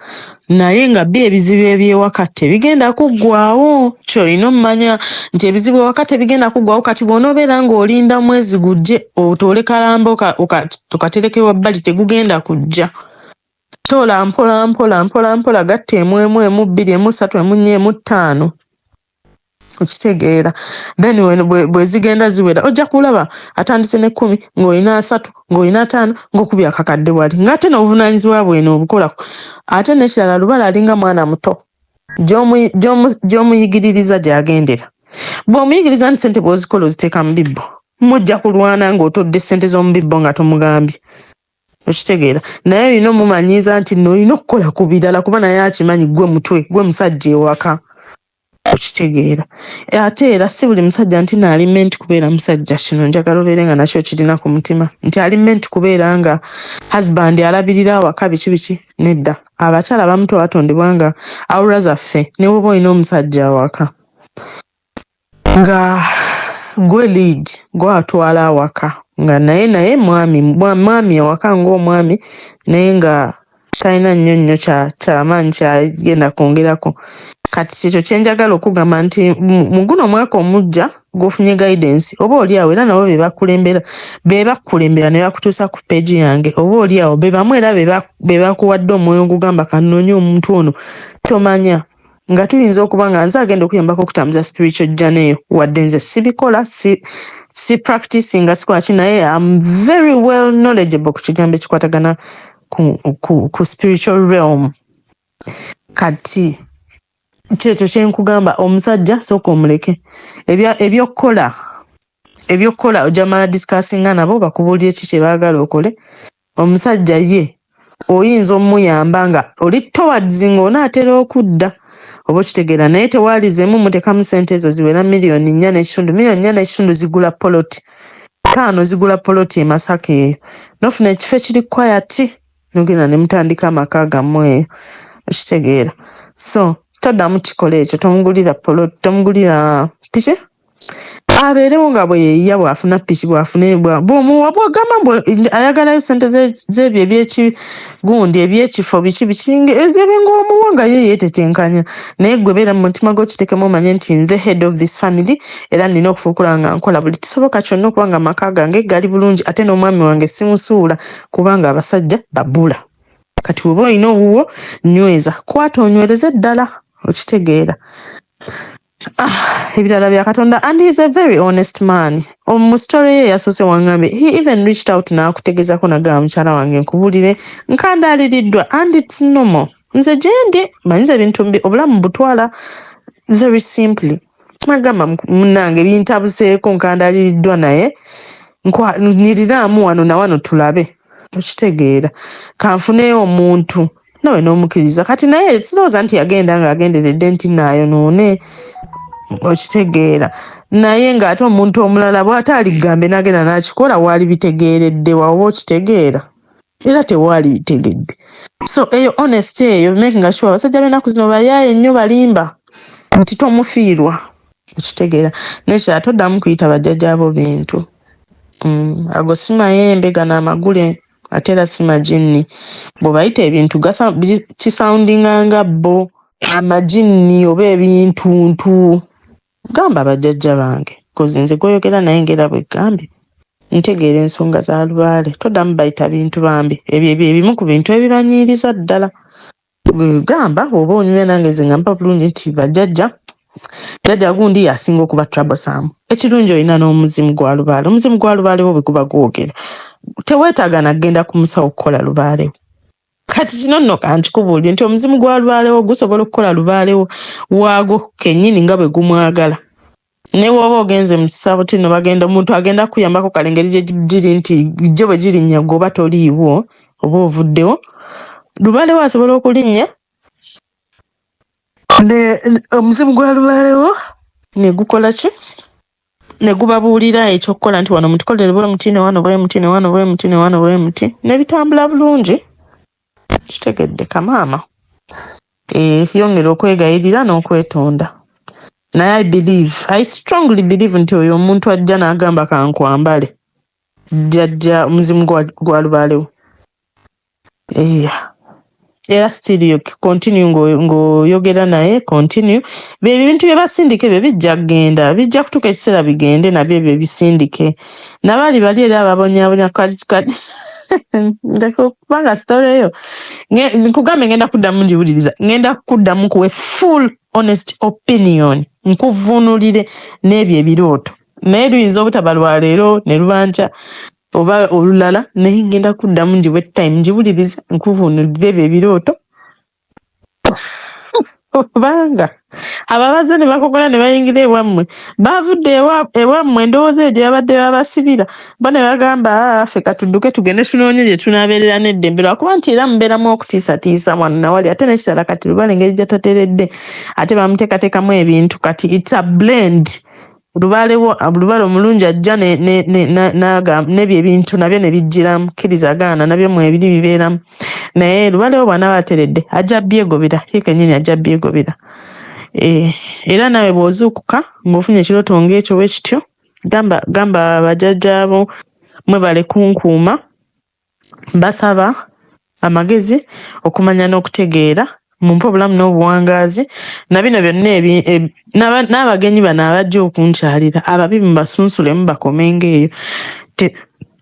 naye nga bi ebizibu ebyewaka tebigenda kuggwawo kyolina omumanya nti ebizibu ewaka tebigenda kuggwawo kati bwonoobeera ng'olinda mwezi gujje otuule kalamba okatereke wabbali tegugenda kujja toola mpola mpola mpola mpola gatta emu emu emu bbiri emu ssatu emu nnya emu ttaano okitegeera then bwezigenda ziwera ojja kulaba atandise nekkumi ng'olina asatu ng'olina ataano ng'okubi akakadde wali ng'ate n'obuvunanyizibwa bwena obukolako ate nekirala lubala alinga mwana muto gy'omuyigiririza gy'agendera. Bw'omuyigiriza nti ssente bw'ozikola oziteeka mu bibbo, mujja kulwana ng'otodde ssente z'omu bibbo nga tomugambye. Okitegeera? Naye olina omumanyiiza nti nno olina okukola ku birala kuba naye akimanyi gwe mutwe, gwe musajja ewaka. Okitegeera? Ate era si buli musajja nti no ali menti kubeera musajja. Kino njagala obeere nga nakyo okirina ku mutima nti ali menti kubeera nga husband alabirira awaka biki biki. nedda abakyala abamu twatondebwa nga awura zaffe newoba olina omusajja awaka nga gwe lead gwatwala awaka nga naye naye mwami mwami awaka ngaomwami naye nga talina nnyo nnyo kyamaanyi kyagenda kwongerako kati kyekyo kyenjagala okugamba nti muguno omwaka omujja gwofunye guidance oba oli awo era nabo bebakulembera bebakukulembera ne bakutuusa ku page yange oba oli awo bebamu era bebakuwadde omwoyo ogugamba kanoonye omuntu ono tomanya nga tuyinza okuba nga nze agenda okuyambako okutambuza spiritual journey eyo wadde nze sibikola si si practice nga sikwaki naye am very well knowledgeable ku kigambo ekikwatagana ku, ku, ku spiritual realm kati kyekyo kyenkugamba omusajja sooka omuleke ebyokukola ebyokukola ojamala discussinga nabo bakubuulire ki kyebaagala okole omusajja ye oyinza omuyamba nga oli towards nga onaatera okudda oba okitegeera naye tewaalizemu mutekamu sente ezo ziwera miliyoni nnya n'ekitundu miliyoni nnya n'ekitundu zigula poloti taano zigula poloti emasaka eyo nofuna ekifo ekiri kwayati nogenda ne mutandika amaka gamwe okitegeera so toddamu kikola ekyo tomugulira polo tomugulira piki abeerewo nga bweyeyiya bwafuna piki bwafuna ebwa bwomuwa bwogamba mbu ayagalayo sente zebyo ebyekigundi ebyekifo biki bikinga ebinga omuwa nga ye yetetenkanya naye gwe beera mu mutima gwokitekemu omanye nti nze head of this family era nina okufuukula nga nkola buli kisoboka kyonna okuba nga amaka gange gali bulungi ate n'omwami wange simusuula kubanga abasajja babula kati weba olina owuwo nyweza kwata onywereze ddala okitegeera ah, ebirala bya katonda and he's a very honest man mu story ye yasoose wangambye he even reached out n'akutegezako nagamba mukyala wange nkubulire nkandaaliriddwa and it's normal nze gyendi manyiza ebintu obulamu butwala very simply Nagamba munange bintabuseeko nkandaliriddwa naye nyiriraamu wano na wano tulabe okitegeera kanfuneewo omuntu nawe n'omukiriza kati naye sirowooza nti yagenda ng'agenderedde nti naayonoone okitegeera naye ng'ate omuntu omulala bw'ata aligambe n'agenda n'akikola waali bitegeeredde waoba okitegeera era tewaali bitegedde so eyo honest eyo makinga sure abasajja benaku zino bayaaye nnyo balimba nti tomufiirwa okitegeera nekira toddamu kuyita bajjajja bo bintu mm, ago si mayembe gano amagule ate era si majinni bwebayita ebintu kisoundinga nga bo amajinni oba ebintuntu Gamba bajjajja bange kozi nze gwoyogera naye ngera bwegambye ntegeera ensonga za lubaale todamu bayita bintu bambi ebyo byebimu ku bintu ebibanyiiriza ddala gamba oba onyumya nange nze nga mpa bulungi nti bajjajja jjajja gundi yasinga okuba troublesome ekirungi olina n'omuzimu gwa lubaale omuzimu gwa lubaalewo bwe guba gwogera teweetaaga na kugenda ku musawo kukola lubaalewo kati kino nno kankikubuulire nti omuzimu gwa lubaalewo gusobola okukola lubaalewo waagwo kennyini nga bwe gumwagala ne bw'oba ogenze mu kisabo tino bagenda omuntu agenda kukuyambako kale engeri gye giri nti jjo bwe girinnya gwe oba toliiwo oba ovuddewo lubaalewo asobola okulinnya omuzimu gwa lubaalewo ne gukola ki ne gubabuulira eky'okukola nti wano mutukolere bwe muti ne wano bwe muti ne wano bwe muti ne wano bwe muti ne bitambula bulungi kitegedde kamaama eh, yongera okwegayirira n'okwetonda naye i believe i strongly believe nti oyo omuntu ajja n'agamba kankwambale jjajja omuzimu gwa lubaalewo Yeah. era still continue ng'oyogera naye continue bebyo ebintu byebasindika ebyo bijja kugenda bijja kutuuka ekiseera bigende nabyo ebyo bisindike nabali bali era ababonyabonya kati kubanga story eyo nkugambe ngenda kuddamu ngiwuliriza ngenda kuddamu kuwe full honest opinion nkuvunulire n'ebyo ebirooto naye luyinza obutaba lwaleero ne lubankya oba olulala naye ngenda kuddamu njiwe time njiwuliriza nkuvuunulira ebyo ebirooto kubanga ababaze ne bakokola ne bayingira ewammwe baavudde ewammwe endowooza eyo gye babadde babasibira bo ne bagamba ah, ffe katudduke tugende tunoonye gye tunaabeerera n'eddembe lwakuba nti era mubeeramu okutiisatiisa mwana nawali ate nekirala kati lubala engeri gyatateredde ate bamuteekateekamu ebintu kati its a blend lubaale wo lubaale omulungi ajja n'ebyo ebintu nabyo ne bijjiramu kkiriza gaana nabyo mwebiri bibeeramu naye lubaale wo bw'anaaba ateredde ajja byegobera ye kennyini ajja byegobera eh, era naawe bw'ozuukuka ng'ofunye ekirooto ng'ekyo bwe kityo gamba gamba bajajjaabo mwebale kunkuuma Basaba amagezi, okumanya n'okutegeera mumpe obulamu n'obuwangaazi na bino byonna ebi n'abagenyi bano abajja okunkyalira ababi mubasunsulemu bakomenga eyo te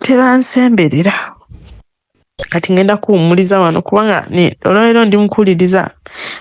tebansemberera. Kati ngenda kuwummuliza wano kubanga ne olwaleero ndi mukuwuliriza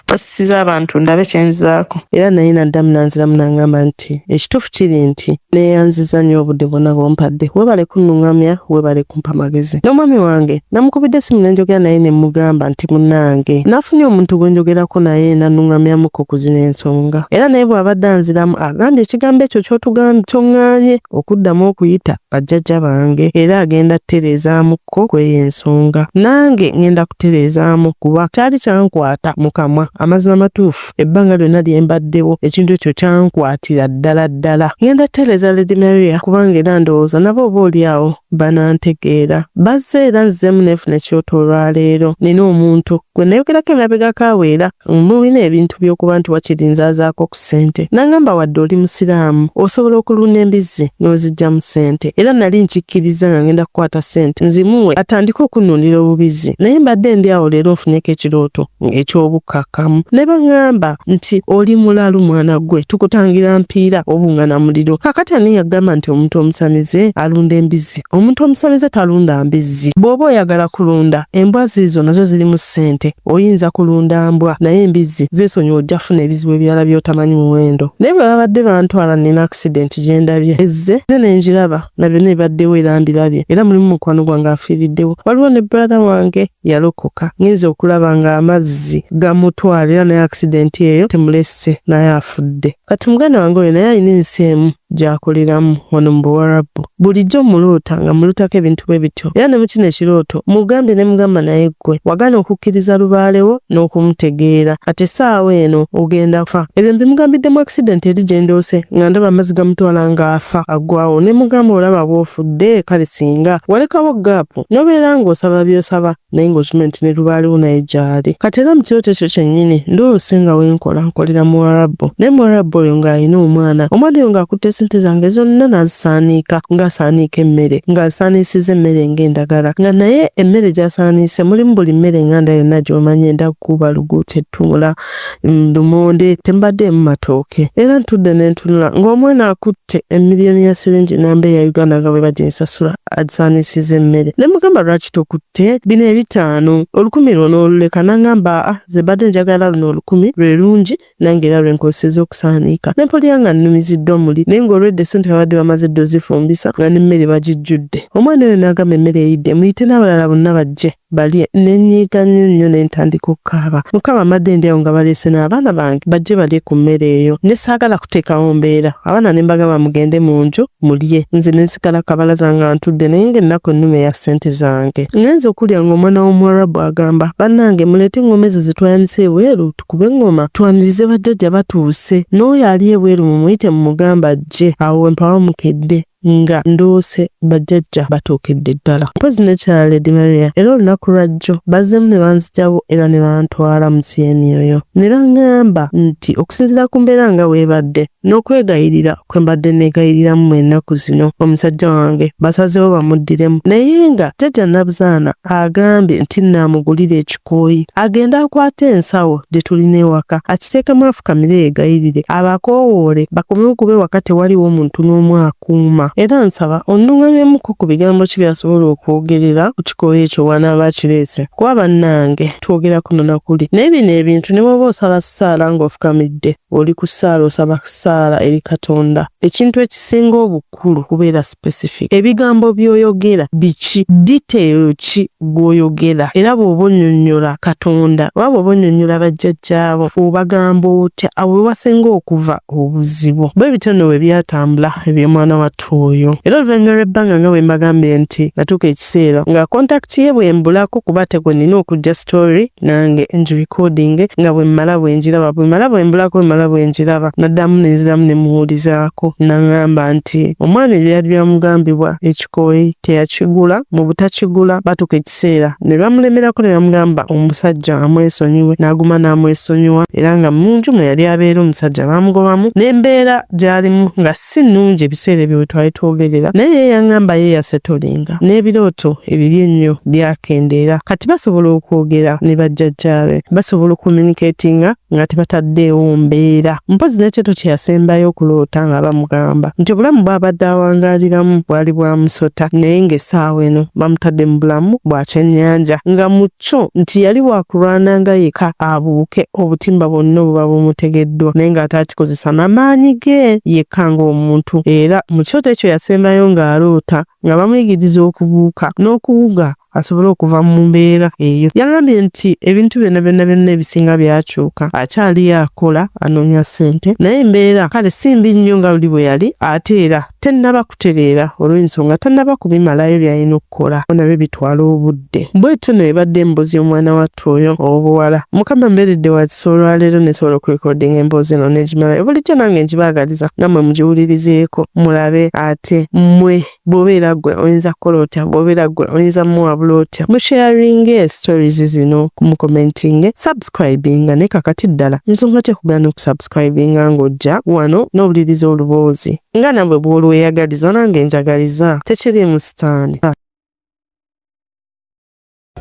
basisiza abantu ndabe kyenzizaako era naye naddamu nanziramu nangamba nti ekituufu kiri nti neyanziza nnyo obudde bwonna bwompadde webale kunnungamya webale kumpa magezi n'omwami wange namukubidde simu nenjogera naye nemugamba nti munange nafunye omuntu gwenjogerako naye nanungamyamuko ku zino ensonga era naye bwabadde anziramu agambye ekigambo ekyo kyotugambye kyoŋŋanye okuddamu okuyita bajjajja bange era agenda tereezaamuko ko kweyo ensonga nange ngenda kutereezaamu kuba kyali kyankwata mu kamwa amazima matuufu ebbanga lyonna lye mbaddewo ekintu ekyo kyankwatira ddala ddala ngenda kutereeza lady maria kubanga era ndowooza nabo oba olyawo banantegeera bazze era nzzeemu nefuna ekyoto olwaleero nina omuntu gwe nayogerako emabega kaweera Mulina ebintu by'okuba nti wakiri nzaazaako ku ssente. N'angamba wadde oli Musiraamu, osobola okulunda embizzi n'oziggyamu ssente. Era nali nkikkirizza nga ngenda kukwata ssente nzimuwe atandike okunnundira obubizzi. Naye mbadde ndi awo leero nfunyeko ekirooto ng'eky'obukkakkamu. Ne bang'amba nti, Oli mulalu mwana ggwe, tukutangira mpiira obungana muliro. Kaakati ani yagamba nti omuntu omusamize alunda embizzi? omuntu omusamize talunda mbizzi bw'oba oyagala kulunda embwa ziizo nazo zirimu ssente oyinza kulunda mbwa naye embizzi zeesonyiwa ojja funa ebizibu ebirala by'otamanyi muwendo naye bwe babadde bantwala nina akisidenti gye ndabye ezze ze ne ngiraba na byonna ebibaddewo era mbirabye era mulimu mukwano gwange afiiriddewo waliwo ne brother wange yalokoka ngenze okulaba ng'amazzi gamutwala era naye akisidenti eyo temulesse naye afudde Kati muganda wange oyo naye alina ensi emu gyakoleramu wano mu buwarabbu bulijjo muloota nga mulotako ebintu bwe bityo era ne mukino ekirooto mugambye ne mugamba naye ggwe wagana okukkiriza lubaalewo n'okumutegeera kati essaawa eno ogenda fa ebyo mbimugambiddemu accident eri gye ndoose nga ndaba amazzi gamutwala ng'afa aggwawo ne mugamba olaba bw'ofudde kale singa walekawo gaapu n'obeera ng'osaba by'osaba naye ng'okimanyi nti ne lubaaliwo naye gyali kati era mu kirooto ekyo kyennyini ndoose nga wenkola nkolera muwarabu naye muwarabu oyo ng'alina omwana omwana oyo ng'akutte sente zange zonna n'azisaaniika ng'asaaniika emmere ng'asaaniisiza emmere ng'endagala nga naye emmere gy'asaaniise mulimu buli mmere enganda yonna gy'omanyi enda kukuba luguuta ettunula ndumonde tembadde mu matooke era ntudde nentunula ng'omwana akutte emiliyoni ya siringi namba eya uganda nga bwe baginsasula agisaanisiza emmere ne mugamba lwaki tokutte bino ebitaano olukumi lwona oluleka nangamba a ah, ze badde njagala luno olukumi lwe lungi nange era lwenkozeseza okusaaniika ne mpulira nga nnumiziddwa muli naye ng'olwedde sente babadde bamaze dde ozifumbisa nga n'emmere bagijjudde omwana oyo n'agamba emmere eyidde muyite n'abalala bonna bajje balye nenyiiga nnyo nnyo ne ntandika okukaaba mukama mbadde ndi awo nga baleese n'abaana bange bajje balye ku mmere eyo ne saagala kuteekawo mbeera abaana ne mbagamba mugende mu nju mulye nze ne nsigala kabalaza nga ntudde naye ng'ennaku ennuma eya ssente zange ngenze okulya ng'omwana w'omuwarabu agamba bannange muleete eng'oma ezo ze twayanise ebweru tukube eng'oma twanirize bajjajja batuuse n'oyo ali ebweru mumuyite mumugamba ajje awo we mpawa mukedde nga nduuse bajjajja batuukidde ddala mpozi ne kya lady maria era olunaku lwajjo bazzemu ne banzijawo era ne bantwala mu kyemyoyo ne baŋŋamba nti okusinziira ku mbeera nga weebadde n'okwegayirira kwe mbadde neegayiriramu mu ennaku zino omusajja wange basazeewo bamuddiremu naye nga jjajja nabuzaana agambye nti naamugulira eki kooyi agende akwate ensawo gye tulina ewaka akiteekemu afukamire yegayirire abakoowoole bakome okube waka tewaliwo muntu n'omu akuuma era nsaba onnungamyemuko ku bigambo ki byasobola okwogerera ku kikooyi ekyo wanaaba akireese kuba bannange twogera kuno na kuli naye bino ebintu ne bwoba osaba ssaala ng'ofukamidde oli ku ssaala osaba ssaala eri katonda ekintu ekisinga obu kikulu kubeera specific. Ebigambo by'oyogera biki? Detail ki gw'oyogera? Era bw'oba onnyonnyola Katonda oba bw'oba onnyonnyola bajjajjaabo obagamba otya? Awo we wasinga okuva obuzibu. Bwe bityo nno bwe byatambula eby'omwana wattu oyo. Era oluvannyuma lw'ebbanga nga bwe mbagambye nti natuuka ekiseera nga contact ye bw'embulako kuba ate gwe nnina okujja story nange ngi recording nga bwemmala bwengiraba bwemala bwembulako bwemala bwengiraba naddamu nenziramu nemuwulizaako nangamba nti omwana ebyali byamugambibwa ekikooyi teyakigula mu butakigula batuka ekiseera ne bamulemerako ne bamugamba omusajja amwesonyiwe n'aguma n'amwesonyiwa era nga munju mwe yali abeera omusajja baamugobamu n'embeera gyalimu nga si nnungi ebiseera ebyo we twali twogerera naye ye yaŋŋamba ye yasetolinga n'ebirooto ebibi ennyo byakendeera kati basobola okwogera ne bajjajjaabe basobola okumyunikeetinga nga tebataddeewo mbeera mpozi n'ekyoto kye yasembayo okuloota nga bamugamba nti obulamu bw'abadde awangaaliramu bwali bwa musota naye ng'essaawa eno bamutadde mu bulamu bwa kyennyanja nga mu kyo nti yali wakulwana nga yeka abuuke obutimba bwonna obuba bumutegeddwa naye ng'ate akikozesa na maanyi ge yekka ng'omuntu era mu kyoto ekyo yasembayo ng'aloota nga bamuyigiriza okubuuka n'okuwuga asobole okuva mu mbeera eyo. Yagambye nti ebintu byonna byonna byonna ebisinga byakyuka, akyali akola anoonya ssente naye embeera kale si mbi nnyo nga luli bwe yali ate era tennaba kutereera olw'ensonga tannaba kubimalayo by'alina okukola nabyo bitwala obudde bwetyo no ebadde emboozi y'omwana wattu oyo ow'obuwala mukama mbeeredde wakisa olwaleero nesobola okurekodinga emboozi eno negimalayo bulijjo nange ngibaagaliza nga mwe mugiwulirizeeko mulabe ate mwe bw'obeera gwe oyinza kukola otya bw'obeera gwe oyinza muwabula otya musharinge stories zino kumukomentinge subscribinga ne kakati ddala nsonga ki okugaana okusubs subscribinga ng'ojja wano n'owuliriza oluboozi nga nabwe bw'olweyagaliza nange njagaliza tekiriimu sitaani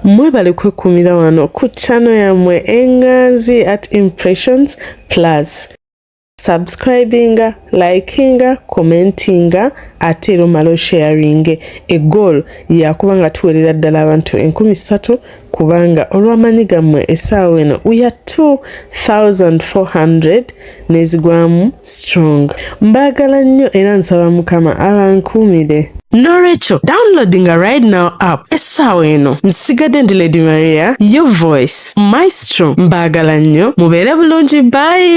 mwebale kwekumira wano ku chano yamwe enganzi at impressions plus subscribinga likinga commentinga ate era omala osharinge egoolo yakuba nga tuwerera ddala abantu enkumi ssatu kubanga olw'amanyi gammwe essaawa eno we are 2400 nezigwamu strong mbaagala nnyo era nsaba mukama abankuumire nolwekyo downloading a right now app essaawa eno nsigadde ndi lady maria your voice maestro mbaagala nnyo mubeere bulungi bayi